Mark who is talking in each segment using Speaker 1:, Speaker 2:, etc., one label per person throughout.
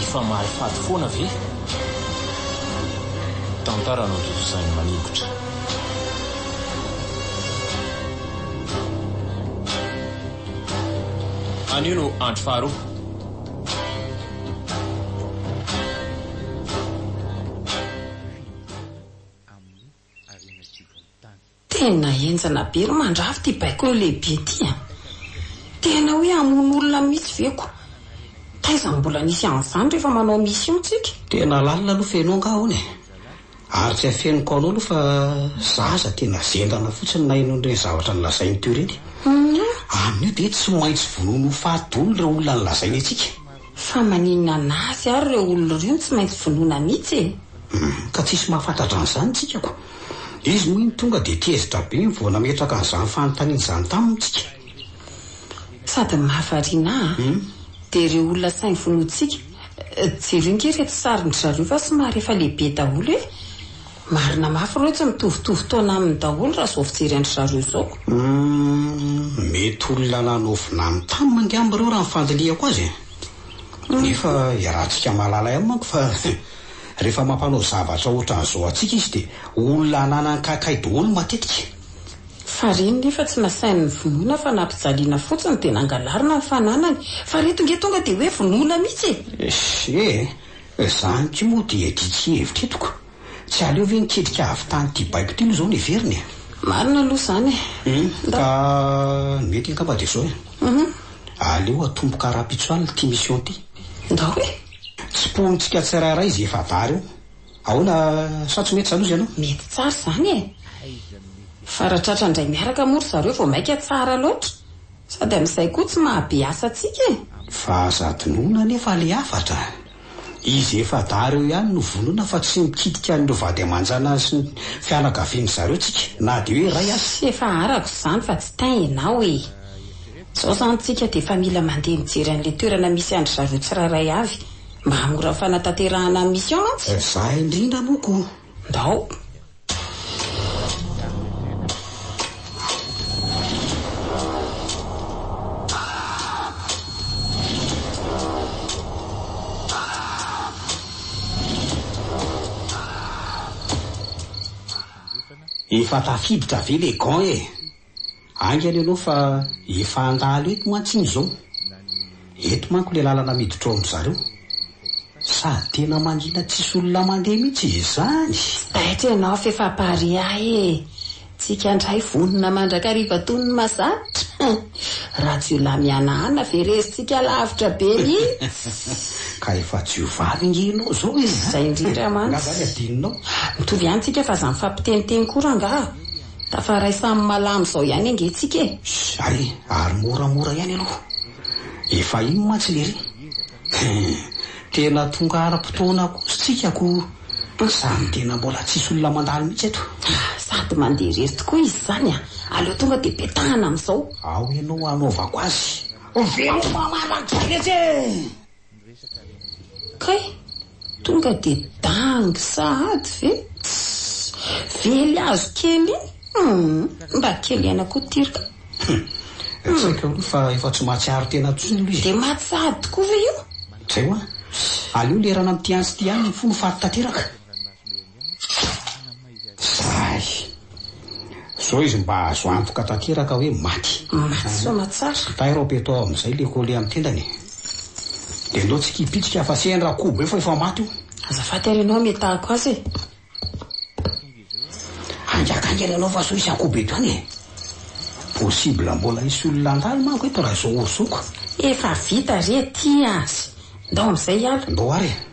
Speaker 1: Efa mahay fady foana ve? Tantara notontosain'i Maningotra. Anio no andro faharoa.
Speaker 2: Tena enjana be ry mandrava ty baiko lehibe ty a! Tena hoe hamono olona mihitsy ve ko! Taiza no mbola nisy an'izany rehefa manao mission tsika? Tena lalina aloha
Speaker 3: feno angah hono e! Ary tsy afeniko anao aloha fa za aza tena zendana fotsiny naheno an'ireny zavatra nolazainy teo ireny e! Amin'io dia tsy maintsy vonoina ho faty daholo ireo olona nolazainy antsika! Fa maninona
Speaker 2: anazy ary ireo olona ireo no tsy maintsy vonoina mitsy e? Hum, ka tsisy
Speaker 3: mahafantatra an'izany tsika ko! Izy moa iny tonga dia tezitra be iny vao nametraka an'izany fanontaniana izany taminy tsika.
Speaker 2: Sady mahavariana a! Hum. Dia ireo olona sahy vonointsika, jereo nge ireto sarin-dry zareo fa somary efa lehibe daholo e! Marina mafy ireo tsy mitovitovy taona aminy daholo raha izao fijery an-dry zareo izao. Humm
Speaker 3: mety olona nanaovina any tam angamba ireo raha ny fandinihako azy e! Nefa iarahantsika mahalala ihany manko fa rehefa mampanao zavatra ohatran'izao antsika izy dia olona ananany kaikay daholo matetika. Farihy
Speaker 2: nefa tsy nasainy nivonona fa nampijaliana fotsiny dia nangalarina ny fananany. Farihy tonge tonga dia hoe vonoina mihitsy e! Esse e! Izany
Speaker 3: ity moa dia diky hevitra eto ko! Tsy aleo ve niketrika avy tany ity baiko ity aloha izao no heverina e! Marina aloha izany
Speaker 2: e! Humm! Ka
Speaker 3: ny mety angamba dia izao e! Aleo atomboka rahampitso alina ity mission ity! Ndao e!
Speaker 2: Tsipohintsika
Speaker 3: tsirairay izay efa vary eo! Ahoana sa tsy mety izany hozy ianao? Mety tsara izany e!
Speaker 2: Fa raha tratra indray miaraka moa ry zareo vao maika tsara loatra! Sady amin'izay koa tsy mahabe asa antsika e! Fa aza
Speaker 3: adinoina anefa ilay hafatra a! Izy efa-dahy ireo ihany no vonoina fa tsy mikitika an'ireo vady aman-janany sy ny fianakavian'ny zareo tsika na dia hoe iray aza. Tsy efa arako
Speaker 2: izany fa tsy tain ianao e! Izao izany tsika dia efa mila mandeha mijery an'ilay toerana misy an-dry zareo tsirairay avy mba hahamora ny fanatanterahana ny mission mantsy. Izaho indrindra moa
Speaker 3: koa. Ndao. Efa tafiditra ve le gant e? Aingana ianao fa efa handalo eto mantsy iny izao. Eto manko ilay lalana miditra ao amin-dry zareo. Sady tena mangina tsisy olona mandeha mihitsy izany. Tsy taitra ianao
Speaker 2: f'efa pariah e! Tsika indray vonona mandrakariva toy ny mazatra. Rajiolahy mihanahana ve resintsika lavitra be mihitsy? Ka efa
Speaker 3: jiovavy ange ianao izao e! Izay indrindra
Speaker 2: mantsy. Angaha izany adinonao?
Speaker 3: Mitovy ihany tsika
Speaker 2: fa aza mifampiteniteny koa rangaha. Tafaray samy malama izao ihany ange tsika e! Zay
Speaker 3: ary moramora ihany aloha efa iny mantsy lery hum tena tonga ara potoana kosa tsika ko zany tena mbola tsisy olona mandalo mihitsy eto. Sady mandeha
Speaker 2: irery tokoa izy izany a! Aleo tonga dia petahana amin'izao. Ao ianao
Speaker 3: hanaovako azy. Veloma maraina tsara mihitsy e!
Speaker 2: Kay! Tonga de dangy sahady ve? Tss! Vely azo kely iny! Hum! Mba kely aina koa tir ka! Hum!
Speaker 3: Tsy haiko aloha fa efa tsy mahatsiaro tena intsony aloha izy. De maty sahady tokoa
Speaker 2: ve io? Zay hoa!
Speaker 3: Aleo lerana amin'ity antsy ity ihany ny fo no faty tanteraka! Sahy. Zao izy mba azo antoka tanteraka hoe maty. Maty soa
Speaker 2: tsara. Tairo aho peto ao amizay
Speaker 3: le colle am tendany e. De ndao tsy kipitika fa sehany ra kobo eo fa efa maty io. Azafady ary ianao
Speaker 2: ametahako azy e.
Speaker 3: Haingaka haingana ianao fa sao hisy akobo eto ihany e. Possible mbola hisy olona handalo manko eto ra zao ozoko. Efa vita
Speaker 2: re aty azy. Ndao amizay hiala. Ndao ary e.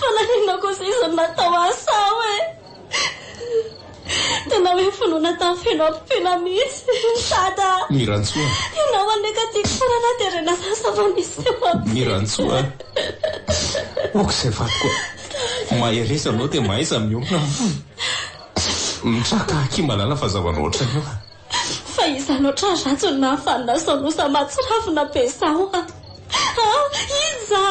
Speaker 4: Fa naninona kosa izy no natao asao e? Tena hoe finoana tamin'ny feno ampompina mihitsy ry Dada a! Ny Rantsoa a!
Speaker 1: Ianao anie ka
Speaker 4: tiako foana na dia rena zany sa vao nisy teo amiko e! Ny Rantsoa
Speaker 1: a! Ok izay vadiko a! Mahereza anao dia mahaiza mihaona a! Mitraka akia malala fa zava-na ohatrany io a! Fa iza
Speaker 4: loatra ry Rantso no nahafaly nasao nosa mahatsiravina be zao a! A! Iza?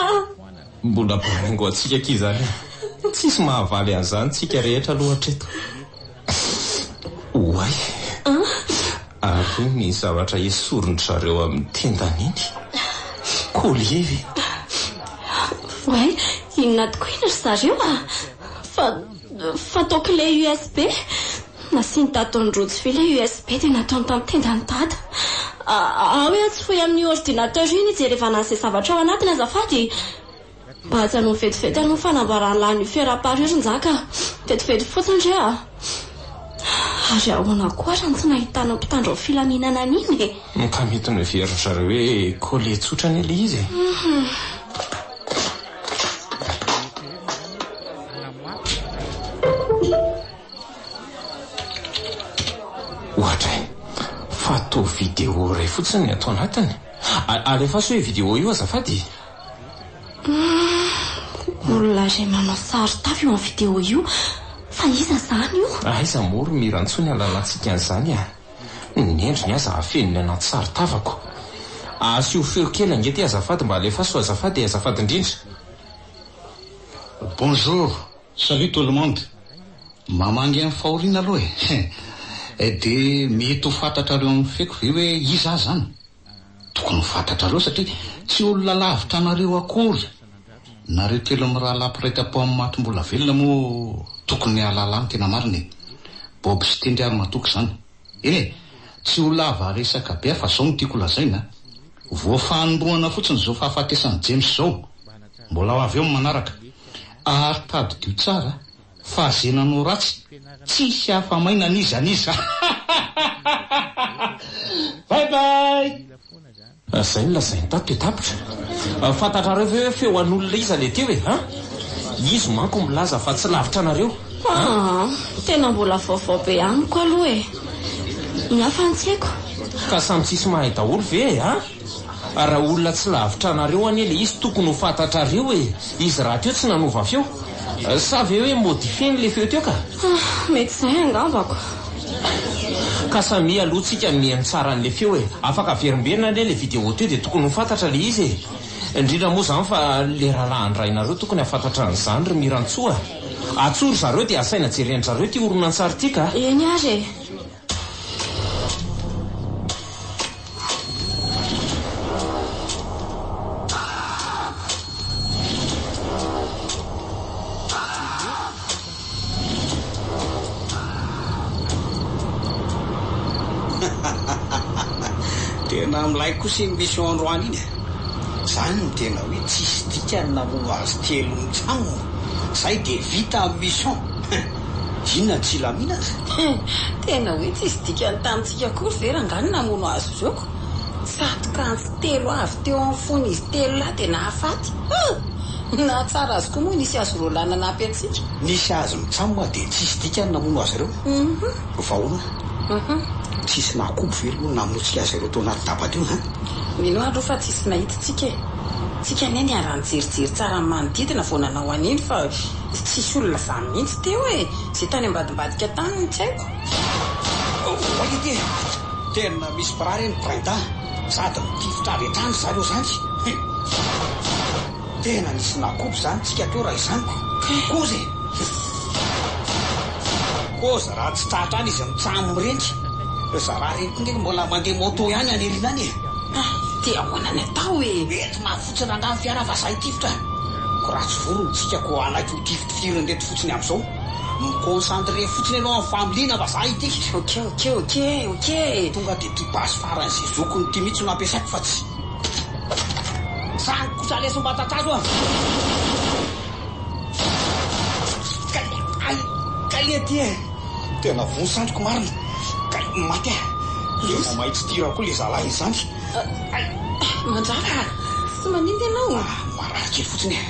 Speaker 1: Mbola baingo antsika akia izany a! Tsisy mahavaly an'izany tsika rehetra aloha hatreto. Oay! Ary iny ny zavatra esorin-dry zareo amin'ny tendany iny? Collier ve?
Speaker 4: Oay! Inona tokoa iny ry zareo a! Fa Fa tao clé usb nasian'i dada tao ny rojo vy ilay usb dia nataony tamin'ny tendan'i dada. Aho hoe atsy fohy amin'io ordinateur io ny hijerevana an'izay zavatra ao anatiny azafady. Mba ajanony vetivety aloha ny fanamboarana an'ilay lucifer à part io ry njaka a. Vetivety fotsiny re a. Ary ahoana koa ary ny tsy nahitana mpitandro ny filaminana an'iny e. Moa ka mety
Speaker 1: noheverin'dry zareo hoe collé tsotra anie ilay izy e. Ohatra e! Fa toa vidéo iray fotsiny ny ato anatiny. Alefaso io vidéo io azafady e! Humm!
Speaker 4: Olona iray manao sary tavy eo amin'ny vidéo io fa iza izany io? Aiza moa ry Mira
Speaker 1: ntsony halanantsika an'izany a! Ny endriny aza afeniny anaty saron-tavako. Asio feo kely ange ty azafady mba alefaso azafady e azafady indrindra.
Speaker 3: Bonjour, salut tout le monde, mamangy any fahoriana aloha e, eh de mety ho fantatrareo amin'ny feko ve hoe iza aho zany? Tokony ho fantatrareo satria tsy olona lavitra anareo akory, nareo telo mirahalahy mpiray tam-po amin'ny maty mbola velona moa tokony hahalala ny tena marina e! Bob sy Tendry ary matoky izany. Eny e! Tsy ho lava resaka be aho fa izao no tiako holazaina a! Voafanindroana fotsiny izao fahafatesan'i James izao, mbola ho avy eo ny manaraka. Ary tadidio tsara Fa ze nanao ratsy tsisy afa maina n'iza n'iza hahahahahaha bye bye. Zay no lazainy
Speaker 1: tato dia tapitra. Fantatrareo ve hoe feo an'olona iza le teo e? Ha? Izy manko milaza fa tsy lavitra anareo. Haa
Speaker 4: tena mbola vaovao be amiko aloha e. Ny hafa tsy haiko. Ka samy
Speaker 1: tsisy mahay daholo ve e? Ha? Raha olona tsy lavitra anareo anie le izy tokony ho fantatrareo e! Izy rahateo tsy nanova feo? Sa ve hoe modifieny le feo teo ka? Ah, mety izay
Speaker 4: angambako.
Speaker 1: Ka samia aloha tsika no mihaino tsara an'le feo e! Afaka averimberina anie le video teo de tokony ho fantatra le izy e! Indrindra moa zany fa le rahalahy andrainareo tokony hafantatra an'izany ry Mirantsoa a! Atsoa ry zareo de asaina jeren-dry zareo ty horonantsary ty ka! Eny ary e!
Speaker 3: Tena milay kosa iny mission androany iny eh. Zany no tena hoe tsisy dikany namono azy telo mitsam. Zay dia vita ny mission. Inona tsy hilaminana? Hum! Tena
Speaker 2: hoe tsisy dikany tamintsika akory ve rangahy ny namono azy ireo ka! Tsatoka antsy telo avy teo amin'ny fon'izy telo lahy dia nahafaty! Hum! Ny nahatsara azy koa moa nisy azy roa lahy nanampy antsika. Nisy azy mitsam
Speaker 3: moa dia tsisy dikany namono azy ireo. Hum! Vao ahoana? Hum! Tsisy nahakobo ve ireo namonotsika azy ireo tao anaty daba teo ha? Mino aho aloha
Speaker 2: fa tsisy nahitintsika e! Tsika anie niara-nijerijery tsara ny manodidina vao nanao an'iny fa Tsy tsisy olona zany mihitsy teo e! Ze tany ambadimbadika tany no tsy haiko. Oay
Speaker 3: ity e! Tena misy bras re ny Prinda sady mitifitra avy hatrany zareo zany. Tena nisy nakobo zany tsika teo raha izany ko! Koza e! Koza raha tsy tratra any izy mitsam mireny. Ry zalahy reny ko nge mbola mandeha moto ihany any aoriana any e! Dia ahoana
Speaker 2: ny atao e! Mety mafy. Tsy
Speaker 3: nandany fiara vazaha i Tifitra an! Ko raha tsy vory ny tsika ko alaiky ho tifitifirin reto fotsiny amzao. Mi concentre fotsiny enao am familiana vazaha ity. Ok ok ok ok.
Speaker 2: Tonga de ty basy
Speaker 3: farany sy zokiny ty mitsy no ampiasaiko fa tsy. Zany kosa leso mba tatazo an! Kay ay kay e ty e! Tena voa sandriko marina! Kay maty ah! Tena mahay tsy tira koa le zalahy izany! Manjaka a! Tsy manimba
Speaker 2: ianao a!
Speaker 3: Marary kely fotsiny e!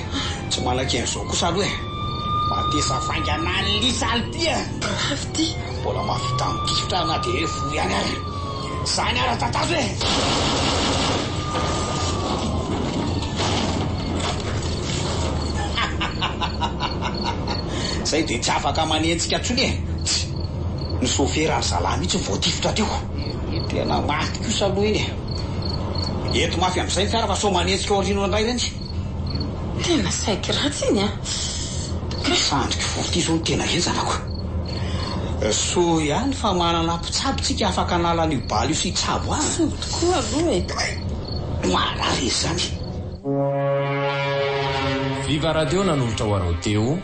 Speaker 3: Tsy malaky an'izao kosa aloha e! Matesa faingana any lisa any ty e! Grave ity!
Speaker 2: Mbola mahavita
Speaker 3: mitifitra na dia hoe voa ihany ary! Izany ary tatazo e! Izay dia tsy afaka manenjika intsony e! Ny sofera ry zalahy mihitsy no voatifitra teo! Ny tena maty kosa aloha iny e! Eto mafy amzay ny fiara fa sao manetsika aoriana indray reny. Tena
Speaker 2: saiky ratsy iny a! Ka.
Speaker 3: Sandriky vola ty zao no tena henjana ko! Soa ihany fa manana mpitsabo tsika afaka hanala an'io bala io sy hitsabo azy. Soa tokoa aloha e!
Speaker 2: Kay! Marary izy zany!
Speaker 1: Viva Radio nanolotra ho anao teo.